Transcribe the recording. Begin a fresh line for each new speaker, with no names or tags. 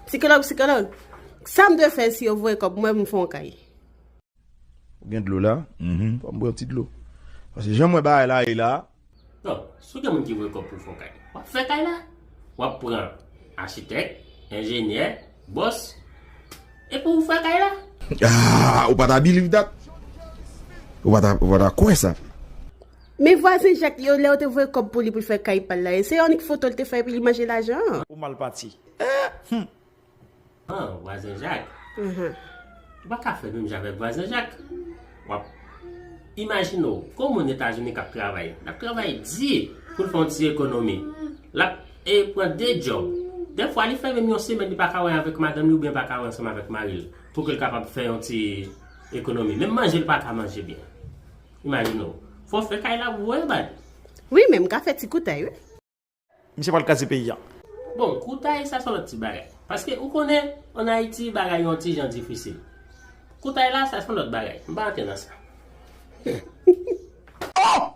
Sikològ, sikològ, sa m dwe fè si yo voye kòb pou mwen pou m fon kay?
Ou gen dlo la? Fò m bwè yon ti dlo. Paske jan m wè bagay la ye la. Non, si w
gen moun ki voye kòb pou w fon kay, w ap fè kay la. W ap pran achitèk, enjenyè, bòs, epi w fè kay la. Ahh, ou pa
ta biliv dat? Ou pa ta kwè sa? Men
vwazen Jacques yo lè yo te voye kòb pou li pou l fè kay pa l la e se annik foto l te fè epi li manje lajan an. Ou mal pati.
Humm.
An, vwazen Jacques. Ou pa ka fè menm jan avèk vwazen Jacques. W ap Imajine w gon moun Etazini k ap travay. L ap travay di pou l fè yon ti ekonomi. L ap e pran de djòb. Dèfwa li fè menm yon semèn li pa ka wè avèk madanm li oubyen pa ka wè ansanm avèk mari l pou ke l kapab fè yon ti ekonomi. Menm manje l pa ka manje byen. Imajine w. Fò w fè kay la pou w voye bal. Wi men m
ka fè ti koutay wi. Misye pral
kraze peyi a. Bon koutay
sa son lòt ti bagay. Paske ou konnen an Ayiti bagay yon ti jan difisil. Koutay la sa son lòt bagay. M pa antre nan sa.
Oh!